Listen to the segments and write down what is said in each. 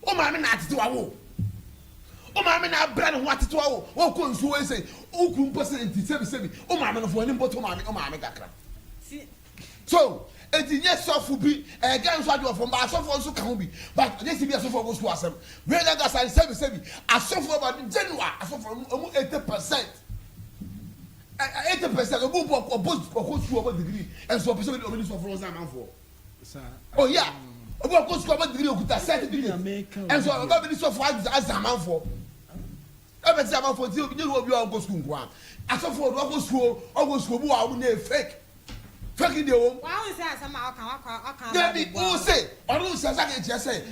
Wo maame na atetewa wo. Wo maame na abrɛ ne ho atetewa wo. Wokɔ nsuo wei sei, wo kuru mpo sei nti sɛbi sɛbi. Wo maame no fo w'ani mpo to maame, wo maame kakra. So, enti nyɛ sɔfo bi, ɛyɛ Ghana nso adeɛ wɔfam, but asɔfoɔ nso ka ho bi. But ɔnyɛ sɛ bi asɔfoɔ kɔ sukuu asɛm. Wei na kasa ne sɛbi sɛbi. Asɔfoɔ ba no general, asɔfoɔ no ɔmo 80 percent. Ɛ, 80 percent, ɔmo mpo ɔkɔ, ɔbɔ, ɔkɔ sukuu, ɔbɔ degree, nso ɔpɛ sɛ ɔbɛdi, ɔbɛdi sɔfo no ho sɛ amanfoɔ. Oya, obi wɔ kɔ sukuu ɔbɔ digiri okuta sɛtifikɛti, ɛnso ɔba bi ni sɔfo adze adze amanfoɔ. Ɛbɛ sɛ amanfoɔ ti obi nye obi a ɔnkɔ sukuu nkoa. Asɔfo ɔdo ɔkɔ sukuu ɔkɔ sukuu obi wɔ a ɔmo nyɛ fake. Fake deɛ wɔm. Dabi, ɔse ɔno nhyɛ sɛ ade nkyerɛ sɛ.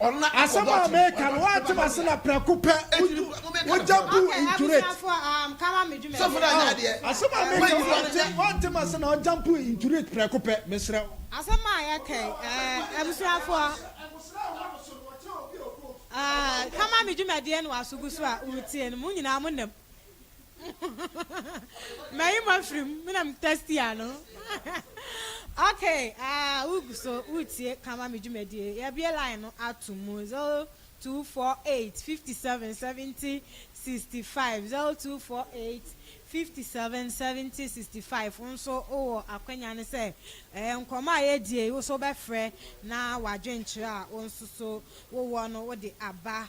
Asɛm a meka no, woante m'ase na prɛko pɛ wogya buu injurate. Oh, asɛm a meka no, woante, woante m'ase na wogya buu injurate prɛko pɛ, mesrɛ wo. Asɛm a yɛka yi, eh, abusuafoɔ, eh, kama me dwumadie no aso gu so a woretie no, mo nyinaa monam. Mayi mo afiri mu, me na me testi ano. Okay, ah, wogu so, wotie kama me dwumadie. Yɛbie line no ato mu 0248 57 70 65, 0248 57 70 65. Wo nso wowɔ akwanya no sɛ eh, nkɔmmɔ a yɛdie yi, wo nso wobɛfrɛ na w'adwenkyerɛ a wo nso so wowɔ no wode aba.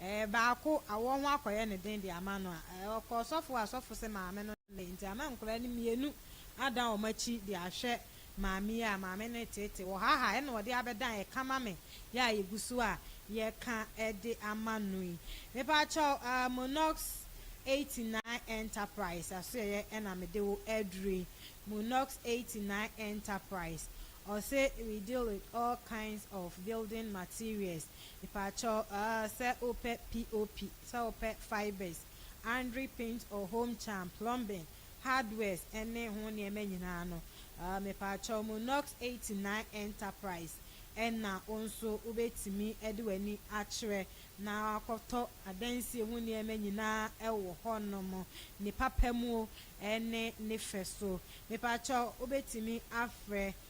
Ɛɛ baako awɔ ho akɔyɛ no den de ama no a, ɛɛ ɔkɔ ɔsɔfo a ɔsɔfo se maame no ne nti ama nkwadaa no mmienu adan wɔn akyi de ahwɛ maame yi a maame no reteetee wɔ ha ha ɛna ɔde abɛdan ɛka ma me yɛ a yɛgu so a yɛka de ama no yi. Mepaakyɛw ah Monox eighty nine Enterprise asoɛeɛ ɛna mede wo aduru yi Monox eighty nine Enterprise ɔse we deal with all kinds of building materials Mpakyɛw aah sɛ wopɛ POP, sɛ wopɛ fibers, Andri paint or home charm, plumbing, hardwares ne ho nneɛma nyinaa no, aah mepakyɛw mo Nox eighty nine Enterprise na wo nso wobɛtumi de w'ani akyerɛ na woakɔtɔ adansie ho nneɛma nyinaa wɔ hɔ nom, ne papa mu o ne ne fɛ so. Mepakyɛw wobɛtumi afrɛ.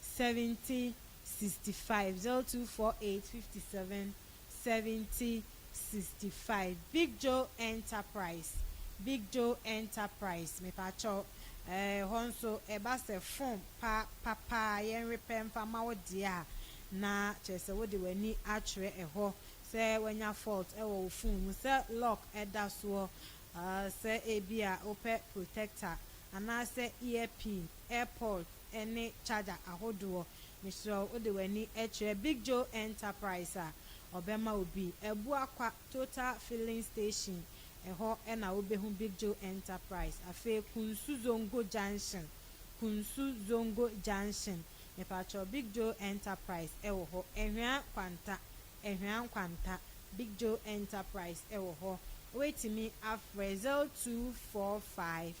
70 65 02 48 57 70 65 Big Joe Enterprise Big Joe Enterprise Mepakyɛw eh hɔ nso ɛba sɛ phone pa papa a yɛnrepɛ mfa ma wo deɛ a na kyerɛ sɛ wode w'ani akyerɛ ɛhɔ sɛ wanya fault wɔ wo phone mu sɛ lock da soɔ ah sɛ ebia wopɛ protector anaasɛ earpin, airpod, ne charger ahodoɔ mesrɛ wo wode w'ani kyerɛ Big Joe Enterprise a ɔbɛma wo bi Abuakwa Total Filling Station ɛhɔ na wobɛhu Big Joe Enterprise afei Kunsu Zongo Junction Kunsu Zongo Junction mepakyɛw Big Joe Enterprise ɛwɔ hɔ Ahwian Kwanta Ahwian Kwanta Big Joe Enterprise ɛwɔ hɔ wobɛtumi afrɛ 0245.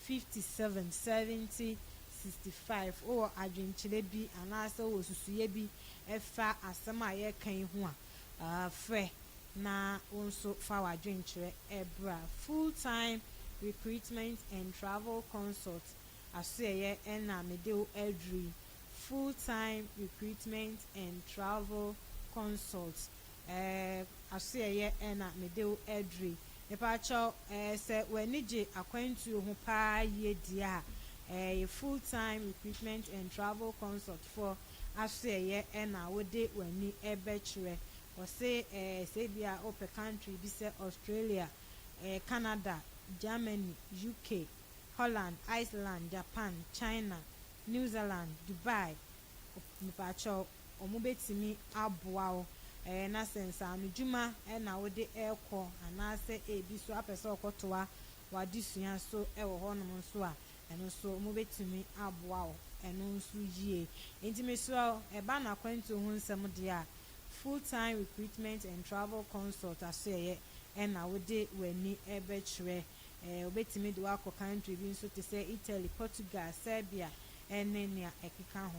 fifty seven, seventy, sixty five, Wowɔ adwenkyerɛ bi anaasɛ wowɔ susuiɛ bi fa asɛm a yɛreka yi ho a, frɛ na wo nso fa w'adwenkyerɛ bra. Full Time Recruitment and Travel Consult asoɛeɛ na mede wo aduru yi, Full Time Recruitment and Travel Consult. Eh asoɛeɛ eh na mede wo adri Mepakyɛw eh sɛ w'ani gye akwantuo ho paa yie deɛ a Eh yɛ full time recruitment and travel consult foɔ Asoɛeɛ eh na wode w'ani bɛkyerɛ Ɔse eh sɛ ebia wopɛ country bi sɛ Australia eh Canada Germany UK Holland Iceland Japan China New Zealand Dubai Mepakyɛw wɔbɛtumi aboa wo. Ɛɛ na sɛ nsaanodwuma na wode rekɔ anaasɛ ebi nso apɛ sɛ wokɔtoa w'adesua so wɔ hɔnom nso a, ɛno nso wɔbɛtumi aboa wo ɛno nso yie. Enti mesrɛ wo, ɛba n'akwantuo ho nsɛm deɛ a, Full Time Recruitment and Travel Consult asoɛeɛ na wode w'ani bɛkyerɛ. Ɛɛ wɔbɛtumi de wo akɔ country bi nso te sɛ Italy, Portugal, Serbia ne nea ɛkeka ho.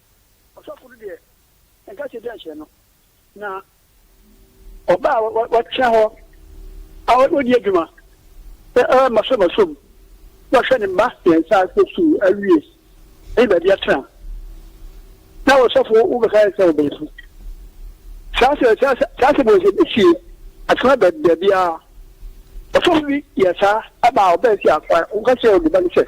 Ɔsɔfo no deɛ, nka sɛ dɛn hyɛ no, na ɔba a watena hɔ a ɔdi adwuma sɛ masɔmasɔm na ɔhwɛ ne mma mmiɛnsa akɔ sukuu awie ne baabi atena na ɔsɔfo wobɛka sɛ ɔbɛnsu saa sɛ saa sɛ saa sɛ bɔsɛ bɛsie atena baabi a ɔsɔfo bi yɛ saa ɛba a ɔbɛn si afa woka sɛ ɔde ba ne sɛ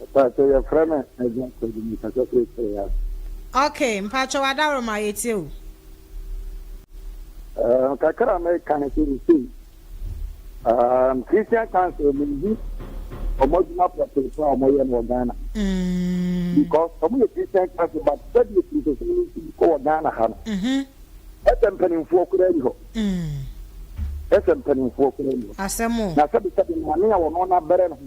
Mpakyɛ yɛfrɛ no Isaac Kwadu mekasa firi Serea. Ok mpakyɛ w'adaworoma yɛtie o. Uh, kakra meka no sɛ ɛsei um, Christian Council mehu ɔmo adwuma pɔtee pa a ɔmɔyɛ no wɔ Ghana mm. because ɔmo yɛ Christian Council but sɛdeɛ kristosom no nti kɔ wɔ Ghana ha no mm-hmm. Ɛsɛ mpanimfoɔ koraa ni hɔ. Ɛsɛ mpanimfoɔ koraa ni hɔ. Asɛm o. Na sɛbesɛbe maame a wɔno no abɛrɛ no ho.